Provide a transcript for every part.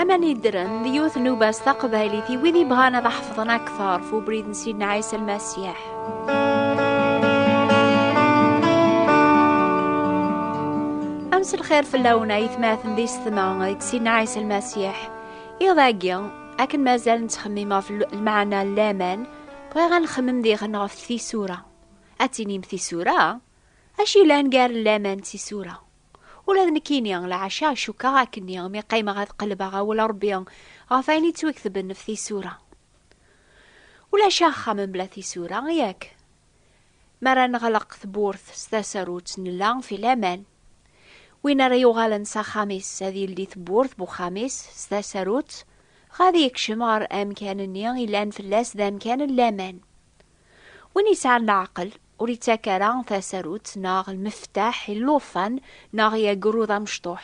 Aman yeddren d yiwet n ubas taqbaylit i wid yebɣan ad ḥefḍen akteṛ f ubrid n Sidna Ɛisa Lmasiḥ. Ams lxir fell-awen ay tmaten di setma d Sidna Ɛisa Lmasiḥ. Iḍ-agi, akken mazal nettxemmim ɣef lmeɛna n laman, bɣiɣ ad nxemmem diɣen ɣef tisura. Ad tinim tisura? Acu yellan gar laman d tisura? Ula d nekkini, lɛaca, cukkeɣ akkenni mi qqimeɣ ad qelbeɣ awal Rebbi ɣef ayen yettwaketben ɣef tisura. Ulac axxam mebla tisura, yak? Mi ara neɣleq tewwurt s tasarut, nella fi laman. Win ara yuɣalen s axxam-is, ad yeldi tewwurt n wexxam-is s tasarut, dɣa ad yekcem ɣer amkan-nni yellan fell-as d amkan n laman. Win yesɛan leɛqel, Ur ittak ara tasarut neɣ lmeftaḥ i llufan neɣ i agrud amecṭuḥ.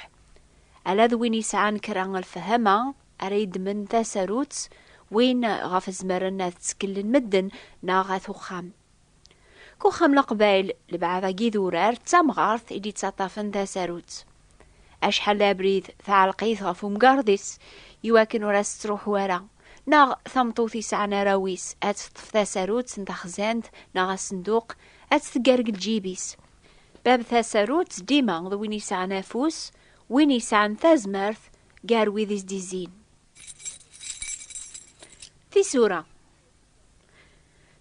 Ala d win yesɛan kra n lefhama ara yeddmen tasarut, win ɣef zemren ad tteklen medden neɣ at uxxam. Deg uxxam n Leqbayel, lebɛad-agi d urar d tamɣart i d-yettaṭṭafen tasarut. acḥal abrid tɛelqit ɣef umgarḍ-is iwakken ur as ttruḥu ara, neɣ tameṭṭut yesɛan arraw-is ad teṭṭef tasarut n taxzant neɣ asenduq ad tt-tegger deg lǧib-is. Bab tasarut dima d win yesɛan afus, win yesɛan tazmert gar wid i s-d-izzin. Tisura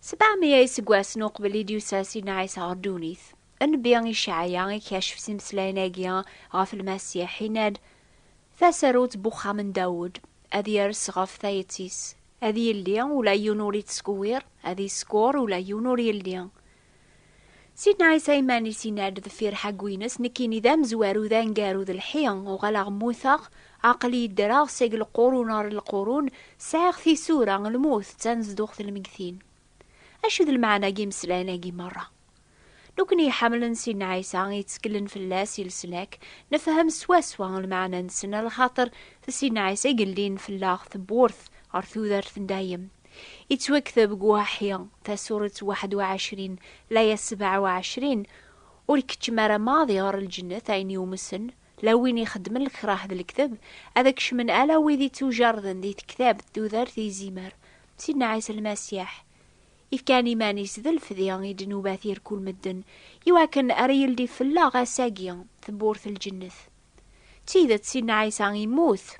Sebɛemya iseggasen uqbel i d-yusa Sidna Ɛisa ɣer ddunit, Nnbi Icɛaya ikacef s imeslayen-agi ɣef Lmasiḥ, inna-d, Tasarut n uxxam n Dawed, ad yers ɣef tayet-is, ad yelli, ula yiwen ur ittṣewwir, ad iskur, ula yiwen ur yelli. Sidna Ɛisa iman-is inna-d deffir ḥaggu-ines, Nekkini d amezwaru, d aneggaru, d lḥi, uɣaleɣ mmuteɣ, aql-iyi ddreɣ seg lequrun ɣer lequrun, sɛiɣ tisura, lmut d tanezduɣt n lmeggtin. Acu d lmeɛna n yimeslayen-agi merra? Nekkni iḥamlen Sidna Ɛisa, yetteklen fell-as, i leslak, nefhem swaswa lmeɛna-nsen, a lxaṭer d Sidna Ɛisa i yeldin fell-aɣ tewwurt ɣer tudert n dayem. Yettwekteb deg Uaḥi, Tasuret waḥed u ɛecrin, laya sebɛa u ɛecrin, Ur ikeččem ara maḍi ɣer lǧennet ayen yumsen, la win ixeddmen lekrah d lekteb, ad ak-cmen ala wid ittujerden di tektabt, tudert, izimer. Sidna Ɛisa Lmasiḥ Ifkan iman-is d lfdi i ddnubat irkul medden, iwakken ar yeldi fell-aɣ ass-agi, tewwurt n lǧennet. D tidet, Sidna Ɛisa immut,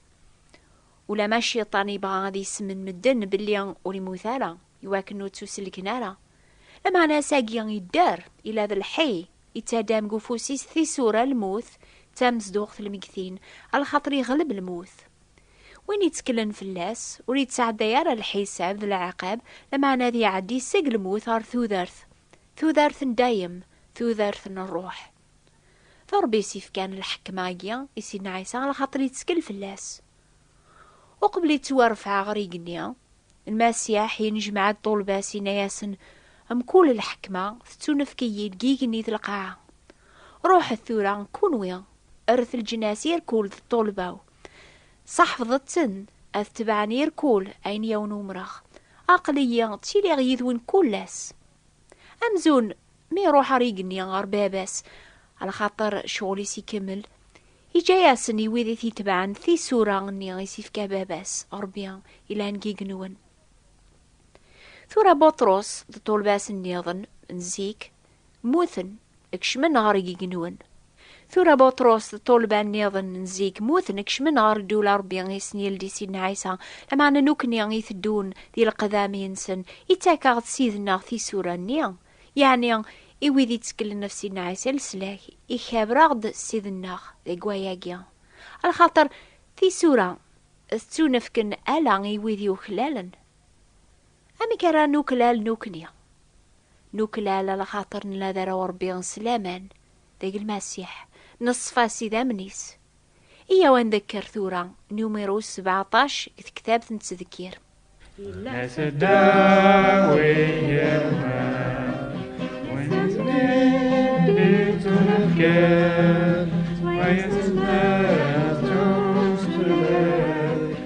ulamma Cciṭan yebɣa ad yessemmen medden belli ur immut ara, iwakken ur ttuselken ara. Lameɛna ass-agi yedder, ila d lḥi, yettadam deg ufus-is tisura n lmut d tamezduɣt n lmeggtin, a lxaṭer yeɣleb lmut. Win itteklen fell-as, ur ittɛedday ara lḥisab d lɛiqab, lameɛna ad iɛeddi seg lmut ɣer tudert, tudert n dayem, tudert n ṛṛuḥ. D Ṛebbi i s-ifkan lḥekma-agi i Sidna Ɛisa lxaṭer ittkel fell-as. Uqbel ittwarfeɛ ɣer igenni, Lmasiḥ yennejmeɛ-d ṭṭulba-s yenna-yasen, Mkul lḥekma tettunefk-iyi-d deg igenni d lqaɛa. Ṛuḥet tura kunwi, rret lǧnas irkul d ṭṭulba-w. Seḥfḍet-ten, ad tebɛen yir kul ayen i awen-umreɣ. Aql-iyi ttiliɣ yid-wen kul ass. Amzun mi iruḥ ɣer yigenni ɣer baba-s, lxaṭer ccɣel-is ikemmel, yeǧǧa-yasen i wid i t-itebɛen tisura-nni i s-ifka baba-s, Ṛebbi ilhan deg yigenwan. Tura Buṭrus d ṭṭulba-s nniḍen n zik Mmuten, kecmen ɣer yigenwen. Tura Buṭrus d ṭṭulba nniḍen n zik mmuten, kecmen ɣer ddul Ṛebbi i sen-yeldi Sidna Ɛisa, lameɛna nukni i teddun di leqdam-insen, i ttakeɣ-d Sidna tisura-nni, yeɛni i wid itteklen ɣef Sidna Ɛisa leslak, i kebreɣ-d Sidna-ɣ deg wayagi. Lxaṭer tisura tettunefken ala i wid yuklalen. Amek ara nuklal nukni? Nuklal a lxaṭer nella d arraw Ṛebbi s laman, deg Lmasiḥ, neṣfa s idammen-is. Iyyaw ad ndekker tura numiru sbeɛṭac deg tektabt n Ttdekkir. Yella seddaw i yemma, win yettnedin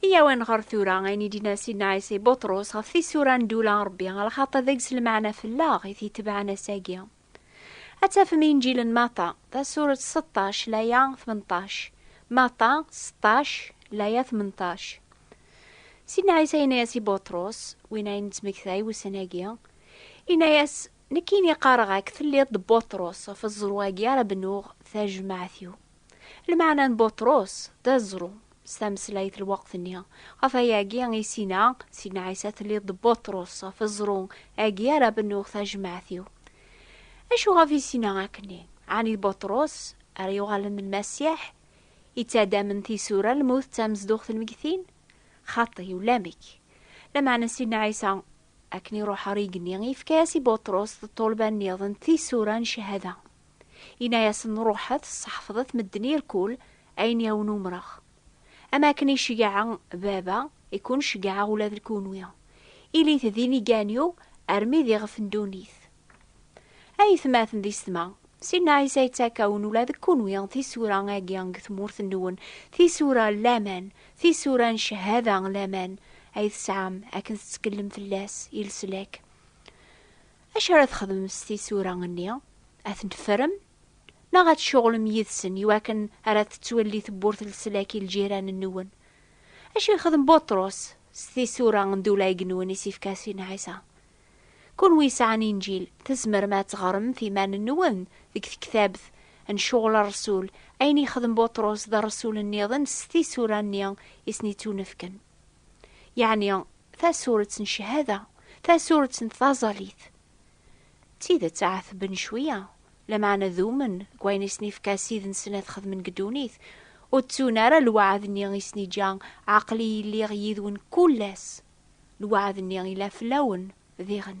Iyyaw ad nɣer tura ayen i d-yenna Sidna Ɛisa i Buṭrus ɣef tisura n ddula n Ṛebbi, ɣer lxaṭer deg-s lmeɛna fell-aɣ i t-itebɛen ass-agi. Ad tafem i Inǧil n Maṭa, tasuret seṭṭac, laya tmenṭac. Maṭa, seṭṭac, laya tmenṭac. Sidna Ɛisa yenna-yas i Buṭrus, win ay nettmektay ussan-agi, yenna-yas, Nekkini qqareɣ-ak, telliḍ d Buṭrus, ɣef ẓẓru-agi ara bnuɣ tajmaɛt-iw. Lmeɛna n Buṭrus, d aẓru, s tameslayt n lweqt-nni. Ɣef wayagi i s-yenna Sidna Ɛisa, Telliḍ d Buṭrus, ɣef uẓru agi ara bennuɣ tajmaɛt-iw. Acu ɣef i s-yenna akkenni? Ɛni d Buṭrus ara yuɣalen d Lmasiḥ, yettadamen tisura n lmut d tamezduɣt n lmegtin? Xaṭi, ulamek. Lameɛna Sidna Ɛisa, akken iruḥ ɣer yigenni, yefka-as i Buṭrus d ṭṭulba nniḍen tisura n cchada. Inna-yasen, Ruḥet, seḥfḍet medden irkul ayen i awen-umreɣ. Am akken i ceggɛeɣ Baba, i ken-ceggɛeɣ ula d kenwi. Ilit d inigan-iw armi d iɣef n ddunit. A yetmaten d ysetma, Sidna Ɛisa yettak-awen ula d kenwi tisura-agi deg tmurt-nwen, tisura n laman, tisura n cchada n laman ay tesɛam akken tettkellem fell-as i leslak. Acu ara txedmem s tisura-nni? Ad ten-teffrem? Neɣ ad tceɣlem yid-sen iwakken ara tettwelli tewwurt n leslak i lǧiran-nwen? Acu yexdem Buṭrus s tisura n Dulayg-nwen i s-yefka Sidna Ɛisa? Kunwi yesɛan Inǧil, tzemrem ad teɣrem f iman-nwen deg tektabt n Cɣel Rrsul ayen yexdem Buṭrus d rrsul-nniḍen s tisura-nni i sen-ittunefken. Yeɛni tasurett n cehada, tasurett n tdaẓalit. D tidet, ɛetben cwiya, lameɛna dumen deg wayen i sen-ifka Ssid-nsen ad xedmen deg ddunit, ur ttun ara lweɛd-nni i sen-iǧǧa, Aql-iyi lliɣ yid-wen kul ass, lweɛd-nni yella fell-awen diɣen.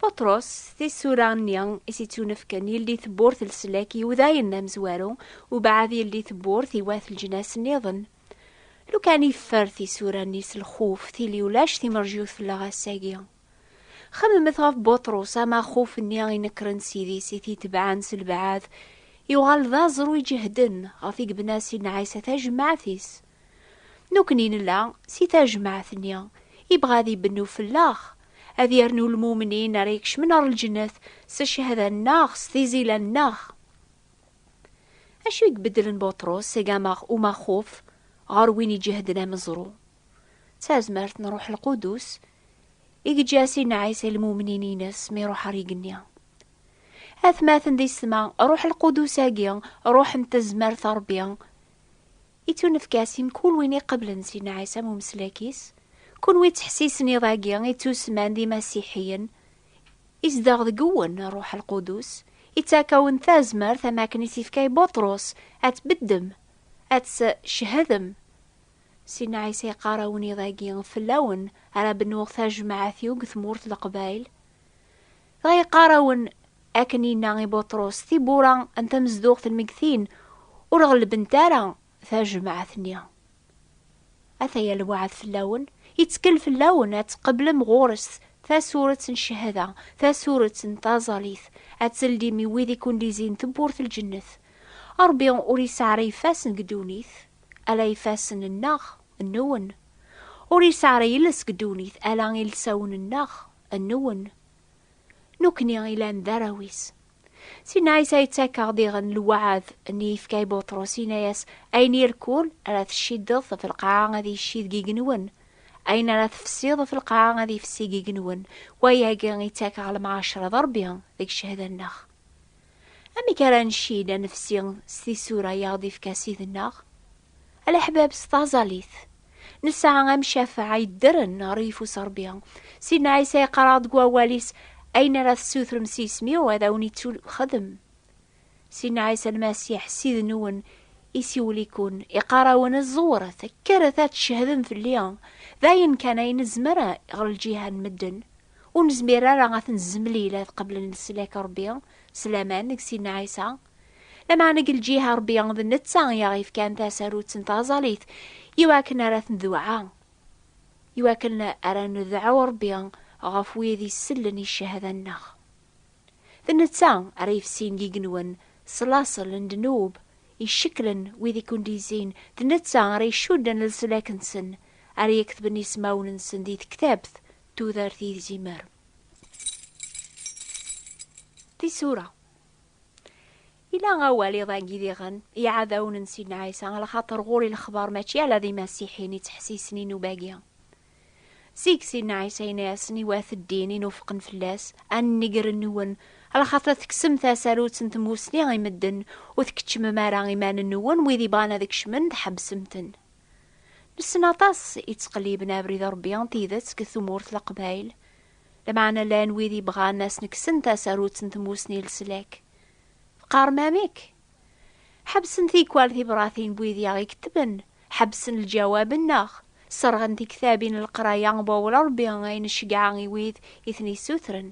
Buṭrus, tisura-nni i s-ittunefken yeldi tewwurt leslak i udayen amezwaru, ubeɛɛed yeldi tewwurt i wat leǧnas nniḍen. Lukan yeffer tisura-nni s lxuf, tili ulac timerjiwt fell-aɣ ass-agi. Xemmemet ɣef Buṭrus, amaxuf-nni inekkren s idis i t-itebɛen s lbeɛɛed, yuɣal d aẓru iǧehden ɣef i yebna Sidna Ɛisa tajemmaɛt-is. Nukni nella si tajmaɛt-nni, ibɣa ad ibennu fell-aɣ, ad yernu lmumnin ara ikecmen ɣer lǧennet s cchada-nneɣ, s tizila-nneɣ. Acu i ibeddlen Buṭrus seg amaɣ umaxuf ɣer win iǧehden ameẓru? D tazmert n Ṛuḥ Lqudus i yeǧǧa Asidna Ɛisa i lmumnin-ines mi iṛuḥ ɣer igenni. Atmaten di ssetma, Ṛuḥ Lqudus-agi, Ṛuḥ n tezmert n Ṛebbi, I tunefk-as i mkul win iqeblen Sidna Ɛisa am umeslak-is, kunwi ttḥessisen iḍ-agi i ttussman d imasiḥiyen, izdeɣ deg-wen Ṛṛuḥ Lqudus, ittak-awen tazmert am akken i tt-ifka i Buṭrus, ad tbeddem, ad tesshedem. Sidna Ɛisa iqqar-awen iḍ-agi, fell-awen ara bnuɣ tajmaɛt-iw deg tmurt n Leqbayel. Dɣa yeqqar-awen, akken yenna i Buṭrus, tiwwura n tamezduɣt n Megtin ur ɣellbent ara tajmaɛt-nni. Ataya lweɛd fell-awen, yettkel fell-awen ad tqeblem ɣur-s tasurett n cehada, tasurett n taẓallit, ad teldim i wid i kundizin tewwurt n lǧennet. Ṛebbi ur yesɛi ara ifassen deg ddunit, ala ifassen nneɣ, nwen. Ur yesɛi ara iles deg ddunit, ala ilsawen nneɣ, Nwen. Nukni i lan d arraw-is. Sin Ɛisa yettak-aɣ diɣen lweɛd n yefka i Buṭrus, yenna-as, Ayen irkul ara teccideḍ ɣef lqaɛa ad yecci deg igenwen, ayen ara tefsiḍ ɣef lqaɛa ad yefsi deg igenwen. Wayagi ittak-aɣ lemɛacer d Rebbi deg ccehda-nneɣ. Amek ara neccid, ad nefsi s tisura i aɣ-d-ifka Ssid-nneɣ? Alaḥbab s taẓalit. Nesɛa amcafaɛ yeddren ɣer yifus Ṛebbi. Sidna Ɛisa yeqqar-aɣ deg wawal-is, ayen ara tessutrem s isem-iw ad awen-ittuxdem. Sidna Ɛisa Lmasiḥ, Ssid-nwen, isiwel-ikun, iqqar-awen, ẓewret, kkret ad tcehedem fell-i. D ayen kan ay nezmer ɣer lǧiha n medden. Ur nezmir ara ad ten-zzemlil ad qeblen leslak n Ṛebbi s laman deg Sidna Ɛisa. Lameɛna deg lǧiha Ṛebbi d netta i aɣ-ifkan tasarut n taẓalit i wakken ara tnedweɛ, i wakken ara nedɛu Ṛebbi ɣef wid isellen i cchada-nneɣ. D netta ara ifsin deg yigenwen s laṣel n ddnub icekklen wid i ken-d-izzin, d netta ara icudden leslak-nsen, ara yektben ismawen-nsen di tektabt n tudert i izimer. Tisura. Ila awal iḍ-agi diɣen i yiɛdawen n Sidna Ɛisa, ɣer lxaṭer ɣur-i lexbar mačči ala d imasiḥiyen i ttḥessisen i nnuba-agi. Zik Sidna Ɛisa yenna-yasen i wat ddin i nufqen fell-as, A nnger-nwen, lxaṭer tekksem tasarut n tmussni i medden, ur tkeččmem ara iman-nwen, wid ibɣan ad kecmen tḥebsem-ten. Nessen aṭas i ttqelliben abrid n Ṛebbi n tidet deg tmurt n Leqbayel, Lameɛna llan wid yebɣan ad sen-kksen tasarut n tmussni n leslak. Teqqarem amek? Ḥebsen tikwal tibratin n wid i aɣ-ikettben, ḥebsen lǧawab-nneɣ, sserɣen tiktabin n leqraya n Wawal Ṛebbi ay neceggeɛ i wid i ten-yessutren.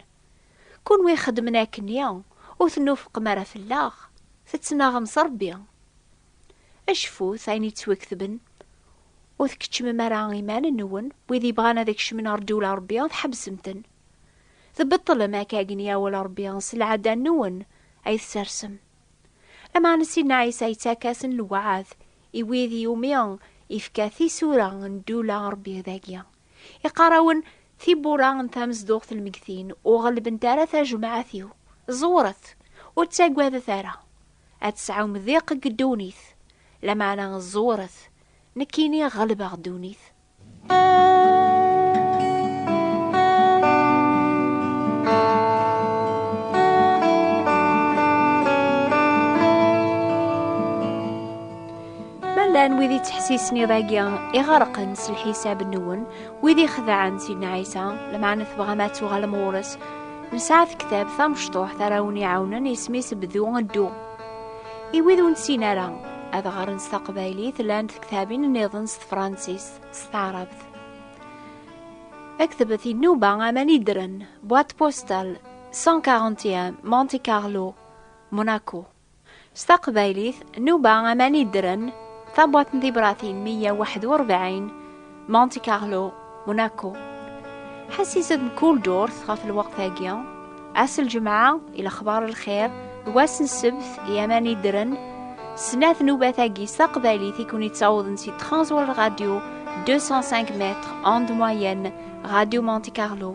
Kenwi xedmen akkenni, ur tenufqem ara fell-aɣ, tettnaɣem s Ṛebbi. Acfut ayen yettwaketben. Ur tkeččmem ara iman-nwen, wid yebɣan ad kecmen ɣer ddewla Rebbi, tḥebsem-ten. Tbeṭṭlem akka gen yawal Rebbi s lɛada-nwen ay tsersem. Lameɛna Sidna Ɛisa yettak-asen lewɛad i wid iwumi yefka tisura n ddewla Rebbi dagi. Iqarawen, tibbura n tamezduɣt lmegtin ur ɣellbent ara tajemɛat-iw. Ẓewret, ur ttagadet ara. Ad tesɛum ddiq deg ddunit, lameɛna ẓewret, nekkini ɣelbeɣ ddunit. Ma llan wid yettḥessisen iḍ-agi iɣerqen s lḥisab-nwen, wid ixedɛen Sidna Ɛisa, lmeɛna tebɣam ad tuɣalem ɣur-s, nesɛa tektab tamecṭuḥt ara wen-iɛawnen isem-is Bdu Ddu. I wid ur nessin ara ad ɣren s taqbaylit, llant tektabin nniḍen s tefransist, s taɛrabt. Aktbet inuba aman idren, boîte postale 141 Monte Carlo, Monaco. S taqbaylit, nuba aman i ddren, tabwaḍt n tibratin meyya u waḥed u rebɛin, Monte Carlo, Monaco. Ḥassiset mkul ddurt ɣef lweqt-agi, ass lǧemɛa i lexbar lxir, d wass n ssebt i aman i ddren, snat nubat-agi s taqbaylit i ken-ittawḍen si Transworld Radio 205 mètres ondes moyennes, Radio Monte Carlo.